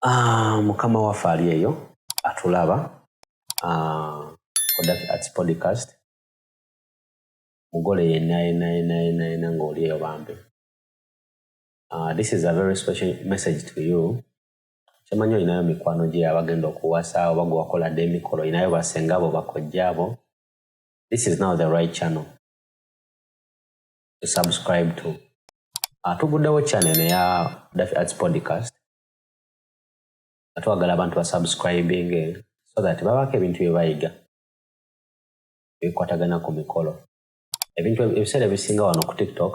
Ah, mukama waffe ali eyo atulaba ah, odaki ats podcast mugole yenna yenna yenna yenna yenna ng'oli eyo bambi ah, this is a very special message to you kyemanyi olinayo mikwano gye abagenda okuwasa oba gwe wakoladde emikolo olinayo basenga abo bakojja abo this is now the right channel to subscribe to ah, tuguddewo channel eya dafi arts podcast nga twagala abantu basubscribing so that babaako ebintu bye bayiga ebikwatagana ku mikolo ebintu ebiseera ebisinga wano ku tiktok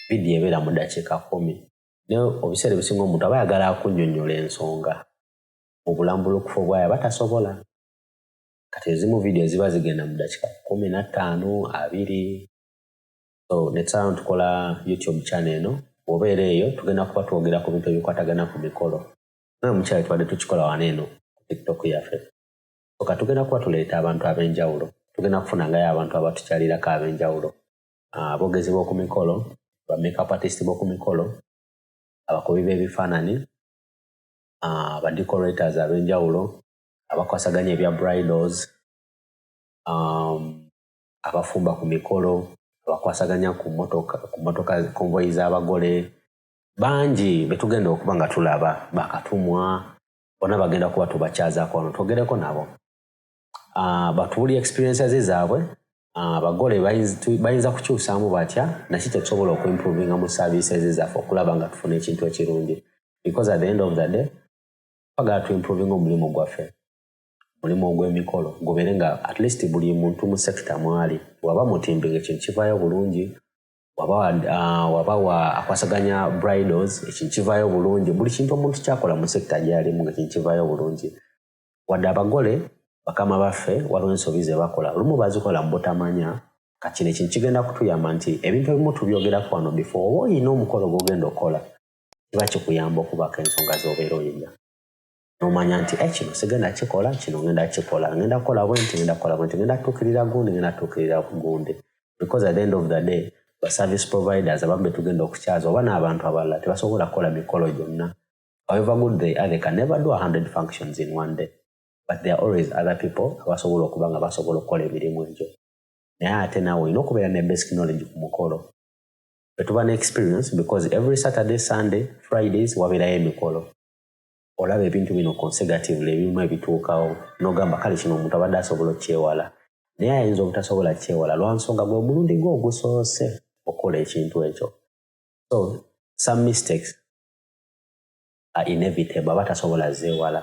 vidiyo ebeera mu dakiika kumi naye obiseera ebisinga omuntu aba yagala akunyonyola ensonga mu bulambulukufu obwayo aba tasobola kati ezimu vidiyo ziba zigenda mu dakiika kumi na ttaano abiri So netusalawo ntukola YouTube channel eno wobeera eyo tugenda kuba twogera ku bintu ebikwatagana ku mikolo nawe mukyali tubadde tukikola wano eno ku tiktok yaffe oka tugenda kuba tuleeta abantu ab'enjawulo tugenda kufunangayo abantu abatukyalirako ab'enjawulo ah, abogezi b'oku mikolo ba makeup artist b'oku mikolo abakubi b'ebifaanani ah, ba decorators ab'enjawulo abakwasaganya ebya bridals um, abafumba ku mikolo abakwasaganya ku motoka konvoyi z'abagole bangi betugenda okuba nga tulaba bakatumwa bona bagenda kuba tubakyazaako wano twogereko nabo ah, batubuli experiences zaabwe ah, abagole bayinza kukyusaamu batya naki kyetusobola okuimprovinga mu services zaffe okulaba nga tufuna ekintu ekirungi because at the end of the day twagala tuimprovinga omulimu gwaffe mulimu ogw'emikolo gubeere nga at least buli muntu mu sekita mwali waba mutimbi ngaekintu kivaayo bulungi waba ah, waba wa akwasaganya bridals ekintu kivaayo bulungi buli kintu omuntu kyakola mu sekita gyalimu ngaekintu kivaayo bulungi wadde abagole bakama baffe waliwo ensobi ze bakola olumu bazikola mu butamanya kati ne kintu kigenda kutuyamba nti ebintu ebimu tubyogerako wano bifo oba olina omukolo gwogenda okukola kiba kikuyamba okubaako ensonga z'obeera oyina nomanya nti eh, kino sigenda kikola kino ngenda kikola ngenda kukola bwenti ngenda kukola bwenti ngenda tuukirira gundi ngenda tuukirira gundi because at the end of the day ba service providers abamu betugenda okukyaza oba n'abantu abalala tebasobola kukola mikolo gyonna however good they are they can never do 100 functions in one day but there are always other people abasobola okuba nga basobola okukola emirimu egyo naye ate naawe olina okubeera ne basic knowledge ku mukolo etuba ne experience because every saturday sunday fridays wabeerayo emikolo olaba ebintu bino consecutively ebimu ebituukawo nogamba kale kino omuntu abadde asobola okyewala naye ayinza obutasobola kyewala lwansonga gwe omulundi gwe ogusoose okukola ekintu ekyo so some mistakes are inevitable aba tasobola zeewala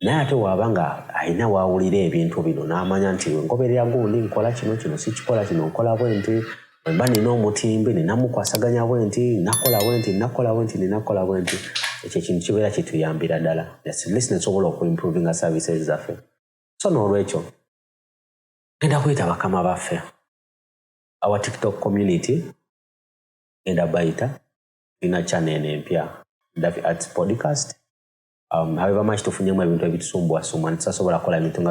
naye ate waaba nga alina waawulira ebintu bino n'amanya nti ngoberera gundi nkola kino kino sikikola kino nkola bwe nti Mba nina omutimbi, nina mukwasaganya bwenti, nina kola bwenti, nina kola bwenti, nina kola bwenti. Ekyo ekintu kibeera kituyambira dala. At least nesobola oku improvinga services zaffe. So n'olwekyo, ngenda kuyita bakama baffe. Our TikTok community, ngenda bayita, nina channel eno empya, Davi Arts Podcast. Um, however much tufunyemu ebintu ebitusumbwa sumwa, nitusasobola kola ebintu nga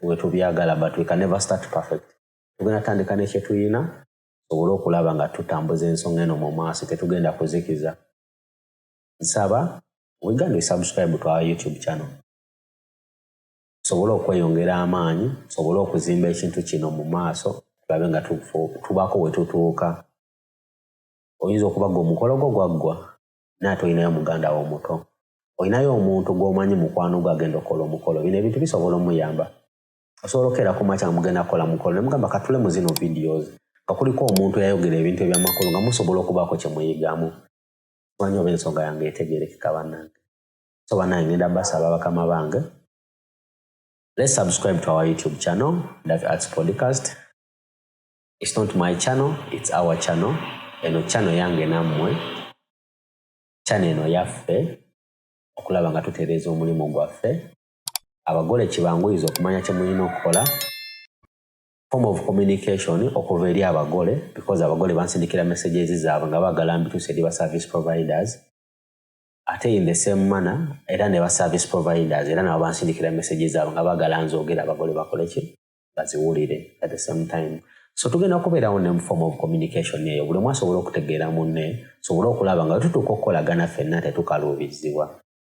wetubyagala, but we can never start perfect. tugenda tutandika ne kyetulina tusobole okulaba nga tutambuza ensonga eno mu maaso tetugenda kuzikiza nsaba weganda esubscribe twa youtube channel tusobole okweyongera amaanyi tusobole okuzimba ekintu kino mu maaso tulabe nga tubaako wetutuuka oyinza okuba gwe omukolo gwo gwaggwa naye ate olinayo muganda wo omuto olinayo omuntu gwomanyi mukwano gwe agenda okukola omukolo bino ebintu bisobola omuyamba osobola okeera ku makya nga mugenda kukola mukolo ne mugamba katule mu zino videos nga kuliko omuntu eyayogera ebintu ebyamakulu nga musobola okubaako kye muyigamu manyi oba ensonga yange etegerekeka bannange so bannange ngenda basaba bakama bange let's subscribe to our youtube channel that arts podcast it's not my channel it's our channel eno channel yange nammwe channel eno yaffe okulaba nga tutereeza omulimu gwaffe abagole kibanguyize okumanya kye mulina okukola form of communication okuva eri abagole because abagole bansindikira messages zaabwe nga baagala mbituuse eri ba service providers ate in the same manner era ne ba service providers era nabo bansindikira messages zaabwe nga baagala nzoogera abagole bakole ki baziwulire at the same time so tugenda kubeerawo ne form of communication eyo buli omu asobola okutegeera munne sobole okulaba nga tutuuka okukolagana fenna tetukaluubizzibwa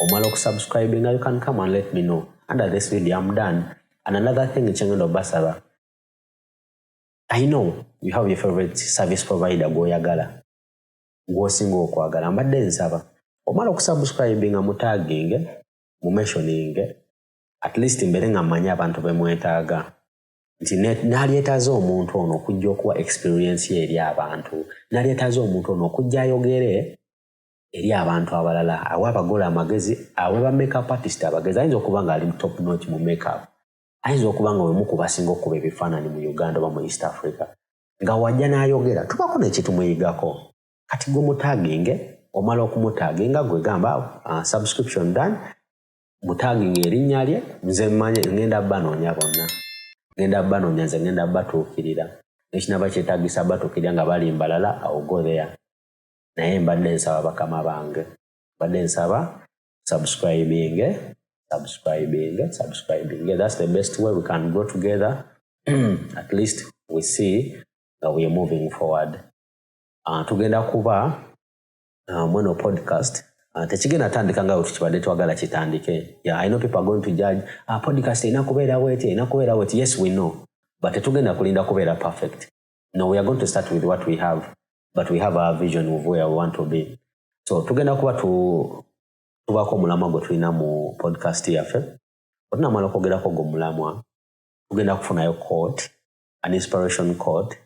omala okusubscribinga you can come and let me know under this video am done and another thing kyengenda obasaba i know you have your favorite service provider gwoyagala gwosinga okwagala mbadde nsaba omala okusubscribinga mutaginge mumensioninge at least mbere nga mmanyi abantu bemwetaaga nti nalyetaaza omuntu ono okujja okuwa experiensi eri abantu nalyetaaza omuntu ono okujja ayogere eri abantu abalala awa abagole amagezi awe ba makeup artist abagezi ayinza okuba nga ali top notch mu makeup ayinza okuba nga wemu kubasinga okukuba ebifaananyi mu uganda oba mu east africa nga wajja n'ayogera tubako nekitumuyigako kati gwe mutaginge omala okumutaginga gwe gamba uh, subscription done mutaginga erinnya lye nze mmanye ngenda banoonya bonna ngenda banoonya nze ngenda batuukirira nekinaba kyetagisa batuukirira nga balimbalala awo go there naye mbadde nsaba bakama bange mbadde nsaba subscribing subscribing subscribing yeah, that's the best way we can go together at least we see nga we are moving forward uh, tugenda kuba uh, mweno podcast uh, tekigenda tandika nga wetukibadde twagala kitandike yeah, i know people are going to judge uh, podcast erina kubeerawo eti erina kubeerawo eti yes we know but tetugenda kulinda kubeera perfect no we are going to start with what we have but we have our vision of where we want to be so tugenda kuba tubaako omulamwa gwe tulina mu podcast yaffe otunamala okwogerako gwe omulamwa tugenda kufunayo court an inspiration court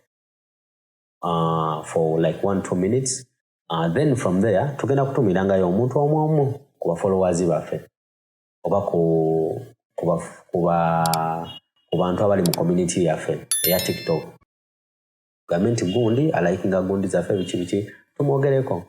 uh, for like one two minutes uh, then from there tugenda kutumirangayo omuntu omu omu ku bafollowers baffe oba ku kuba kuba ku bantu abali mu community yaffe eya tiktok gambe nti gundi alikinga gundi zaffe biki biki tumwogereko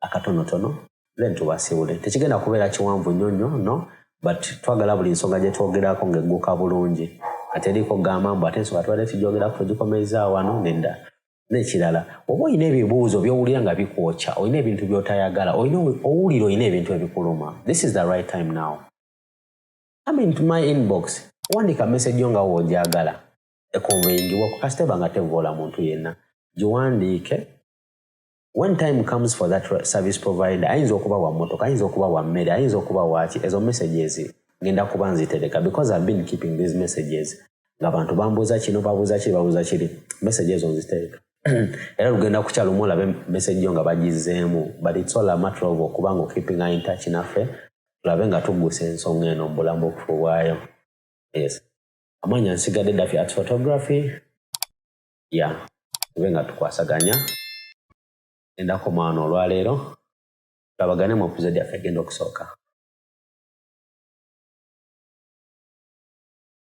akatonotono then tubasiwule tekigenda kubeera kiwanvu nnyo nnyo no but twagala buli nsonga gye twogerako ng'egguka bulungi ateriiko gamba mbu ate ensonga tubadde tugyogerako tugikomezzaa wano nedda nekirala oba olina ebibuuzo byowulira nga bikwokya olina ebintu byotayagala olina owulira olina ebintu ebikuluma this is the right time now come into my inbox wandika message yo nga woojagala ekonveyingibwa ku kasiteba nga tevoola muntu yenna giwandiike when time comes for that service provider ayinza okuba wa motoka ayinza okuba wa mmere ayinza okuba waaki ezo messages ngenda kuba nzitereka because ive been keeping these messages nga bantu bambuuza kino babuuza kiri babuuza kiri message ezo nziteeka era lugenda kukyala omu olabe message yo nga bagizeemu but it's all a matter of okuba nga okeeping in touch naffe tulabe nga tuggusa ensonga eno mu bulamu obufu bwayo yes amanya nsigadde dafi at photography ya yeah. tube nga tukwasaganya endako mwana olwaleero tulabagane mu episode yaffe egenda okusooka